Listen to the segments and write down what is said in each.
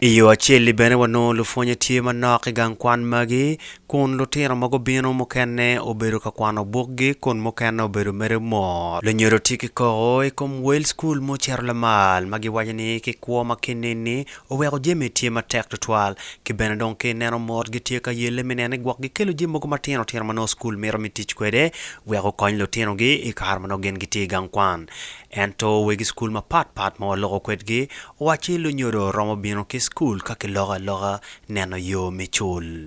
I yo acel-li bene wanongo lupwonye tye manok i gang kwan magi, kun lutino ma gubino mukene obedo ka kwano bukgi kun mukene obedo mere mot. Lunyodo tye ki koko i kom wel cukul mucito lamal ma giwaco ni ki kwo ma kinini Oweko jami tye matek tutwal, ki bene dong ka ineno mot gitye ka yelle me nene gwok gikelo jami mogo matino tino ma nongo cukul mito me tic kwede wek gukony lutinogi i kare ma nongo gin gitye i gang kwan. Ento wegi cukul mapat pat ma waloko kwedgi owacci lunyodo romo bino ki cukul ka kiloko aloka neno yo me cul.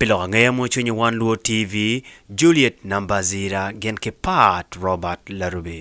Pi lok angeya mo cwinyi wan luo TV Juliet Nambazira gin ki Pat Robert Larubi.